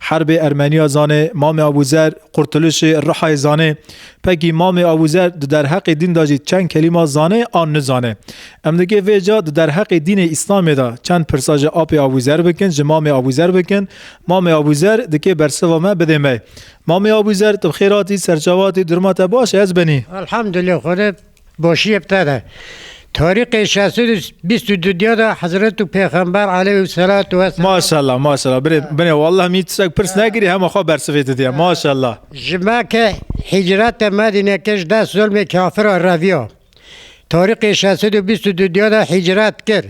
Herbê Ermeniya zanê, Mamê Abûzer, Qurtulişê, Rihayê zanê. Pekî Mamê Abûzer di derheqê dîn de jî çend kelîma zanê an nizane. Em digê vê ca di derheqê dînê Îslamê de çend pirsa ji Apê Abûzer bikin, ji Mamê Abûzer bikin. Mamê Abûzer dikê bersiva me bidê me. Mamê Abûzer, tu bi xêr hatî, serçava hatî, durma te baş e, ez benî. Elhamdulillah Xwedê Başiyê bi te de. Tarîxê şeş sed û bîst û du diya de Hezretû Pêxember aleyhû selatû ve selam Maşallah maşallah birê binê wallah min tiştek pirs nekirî hema xwe bersivê tu diye maşallah. ji me ke hîcrete Medîne kir ji dest zulmê kafiran reviya. Tarîxê şeş sed û bîst û du diya de hîcret kir.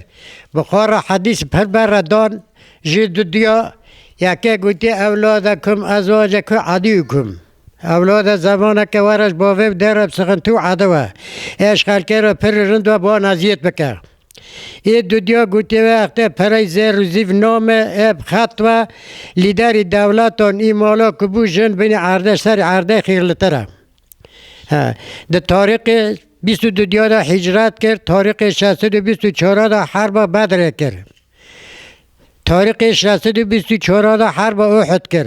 Buxara hedîs pir berre dan jî du diya yekê gotî ewladekum ezwacekum edîukum. Ewlada zemaneke we re ji bo vê bi dê re bi sixintî û edi we eşxalkê re pir li rind ve bi wan eziyet bike. Ê dudya gotiyê wê extê pereyî zêr û zîv name ê bi xet ve lîderî dewletan ê mala ku bû jin bînî erdê ji serî erdê xîrlitir e. Di tarîxê bîst û du dya de hîcret kir, tarîxê şeş sed û bîst û çar de herba Bedrê kir. Tarîxê şeş sed û bîst û çar de herba Uhud kir.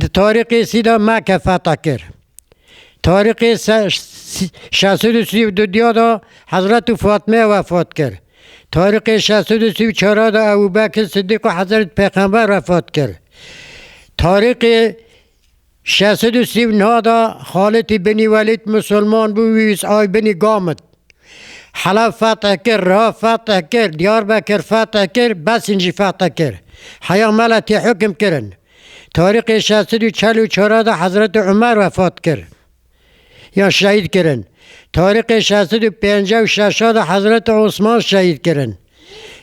Di Tarî Qêsî de meke fethe kir. Tarî Qês şeş sed û sî û du diya de Hezretî Fatmeyê wefat kir. Tarî Qês şeş sed û sî û çar a de Ebû Bekir Sidîq û Hezretî Pêxember wefat kir. Tarî Qês şeş sed û sî û neh a de Xalîtî Binî Welîd misilman bû û wî wîst ay binî Gamit. Helef feth kir, Riha feth kir, Diyarbekir feth kir, Besîn jî feth kir. Heya me le tê hukm kirin. Tarîxê şeş sed û çel û çar de Hezretê Umer wefat kir. Yan şehîd kirin. Tarîxê şeş sed û pênceh û şeş de Hezretê Osman şehîd kirin.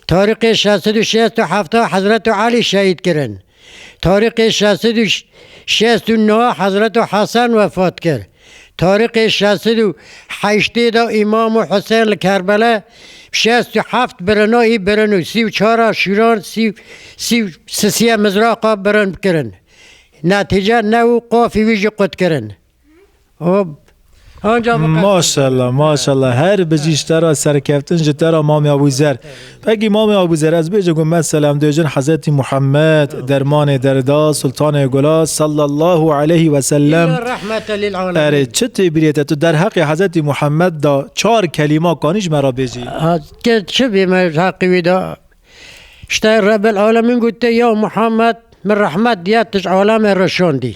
Tarîqê şeş sed û şeş û hefta Hezreto Elî şehîd kirin. Tarîqê şeş sed û şeş û neh Hezreto Hesen wefat kir. Tarîqê şeş sed û heştê de Îmamo Husên li Kerbele şeş û heft birina î birin û sî û çar a şîran sî û sî û sisiye mizraqa birin kirin. Netîce new qafî wî jî qut kirin. Hop. Anca bu Maşallah maşallah her bijî ji te re serkeftin ji te re Mamê Abûzer. Pekî Mamê Abûzer ez bêje ku me selam dêjin Hezretî Muhammed dermanê derda Sultanê Gula sallallahu aleyhi ve sellem. illa rahmete lil alemin. Erê çi tê birê te tu derheqê Hezretî Muhammed da çar kelîma kanî ji me re bêjî. Ha, Te çi bê me ji heqî wî da? Ji te Rebel alemin gote ya Muhammed min rehmet diya tu ji alemê re şandî.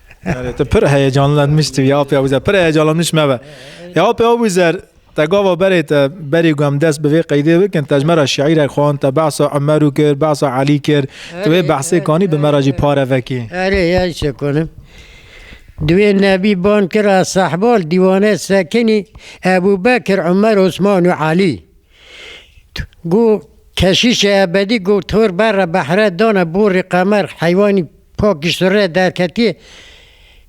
Erê tu pir heyecanlanmış tu ya apê Abuzer pir heyecanlanmış me be. Ya apê Abuzer te gava berê te berî ku em dest bi vê qeydê bikin te ji me re şîîrek xwend te behsa Umerû kir behsa Elî kir tu wê behsê kanî bi me re jî pare vekî. Erê ya ji çê konim. Duê nebî ban kira sehbal dîwane sekinî Ebû Bekir Umer Osman û Elî. Go keşîşê ebedî go tor berre behre dane borî qemer heywanî pak giştirê derketî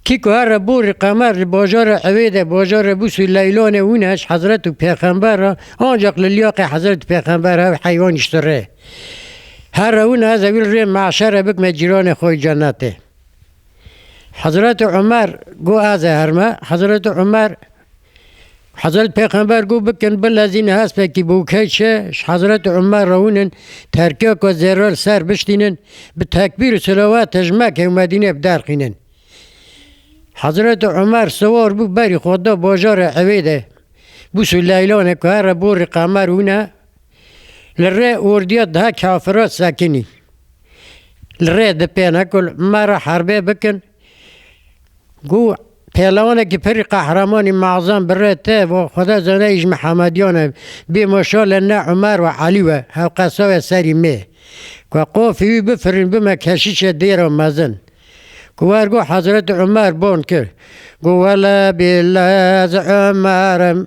kî ku herre borî qemer li bajarê ewê de bajarê bûsû leylanê wîneş hezretû pêxember a ancaq li liyaqê hezretû pêxember hev heywan giştirê herre wîne ez ewîl rê meşere bikme cîranê xo yê cenetê. Hezretû Umer go ez ê herme hezretû Umer Hezret Pêxember got, Bikin bilezîn hespekî bûke çi, ji Hezret Umer re hûnin terkiya ku zêro li ser biştînin, bi tekbîr û selewatê ji Mekke û Medîneyê bi der xînin. Hezret Umer siwar bû berî xwe da bajarê Ewê de. Bûs û leylanê ku here borî qemer hûne, li rê ordiya diha kafira sekinî. Li rê dipêne ku me re herbê bikin. Ku pehlewanekî pirr qehremanî Mazem bi rê te û xweda zenayî ji Mihemediyan e, bê maşalê ne Umer û Elî we hevqesaye serî mê. Ku qafî wî bifirîn bime keşîşê dêra mezin. Ku wer got Hezretî Umer bon kir. Got wele bî lez Umer im.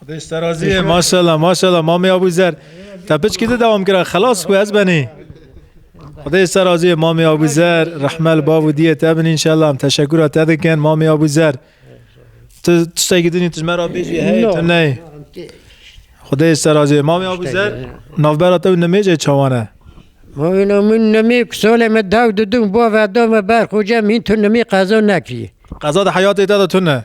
Xwedê ji te razî ye. Maşallah maşallah Mamê Abûzer. Te piçkî di dewam kira xelas ku ez benê. Xwedê ji te razî ye Mamê Abûzer. Rehme li bav û diyê te bin înşallah. Em teşekûra te dikin Mamê Abûzer. Tu tiştekî dinî tu ji me re bêjî hey tu neyê. Xwedê ji te razî ye. Mamê Abûzer navbera te û nimêjê çawan e? Mavîna min nimê ku salê me daw didûm bavê da me berxwe cem hîn tu nimê qeza nekirî. Qeza di heyatê te de tune.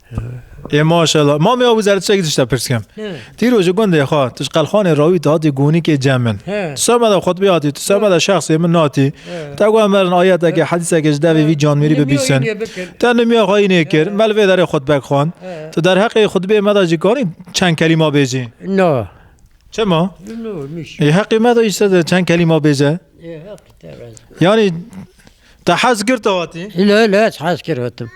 Ê maşallah. Mamê abû zer tiştekî tişte pirs kim. Tî rojê gundê xwe tu ji qelxanê rawî tu hatî gonîkê cem min. Tu semeda xutbê hatî, tu semeda şexsê min hatî. Te got em berin ayetekê, hedîsekê ji devê vî canmêrî bibîsin. Te nimiya xwe înê kir, me li vê derê xutbek xwend. Tu derheqê xutbê me de jî kanî çend kelîma bêjî? Na. Çima? Ê heqê me de îşte de çend kelîma bêje. Yanî Te hez kir tu hatî? Lê lê ez hez kir hatim.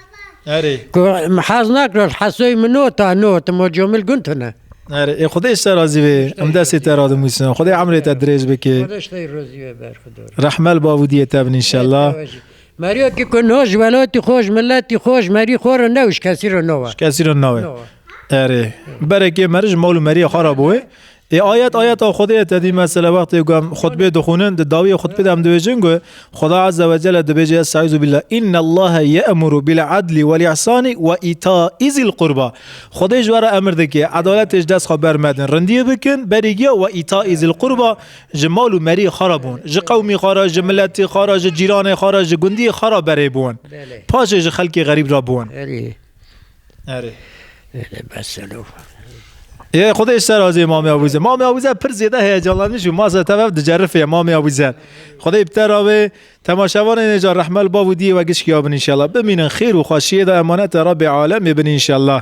Erê. Ku em hez nakir ez hesoyê min nota notim o comil gund tune. Erê ê Xwedê ji te razî bê. Em destê te ra dimûsin. Xwedê emrê te dirêj bike. Xwedeş te rozî ve berxidor. Rehmel bavûdiyê te bin înşellah. Meriyo ki ku no ji welatî xwe ji miletî xwe ji merî xwe re ne û ji kesî re ne we. Kesî re nawe. Erê. Berekê meri ji mal û meriyê xwe re bo wê. Ê ayet ayeta Xwedê ye tedî me sele wextê ku em xutbê dixwînin di dawiyê xutbê de em dibêjin ku Xweda Azze ve Celle dibêje Estaizu billah inna Allahe ye'muru bil adlî wel ihsanî we îtaî zîl qurba Xwedê ji we re emir dike edaletê ji dest xwe bermedin rindiyê bikin berî giya we îtaî zîl qurba ji mal û merî xwe re biwin ji qewmî xwe re ji miletî xwe re ji cîranê xwe re ji gundiyê xwe re berê biwin paşê ji xelkê xerîb re biwin. Erê. Erê bes e lû. Yê xwedê ji te razî ye Mamê Abûzer. Mamê Abûzer pir zêde heyecanlanî jû ma ser tev dicerifê ye Mamê Abûzer. Xwedê bi te ra bê. Temaşevanên ê ca rehmel bav û diyê we gişkîya bin înşellah. Bimînin xêr û xweşiyê de emanetê Rabbê Alemê bin înşellah.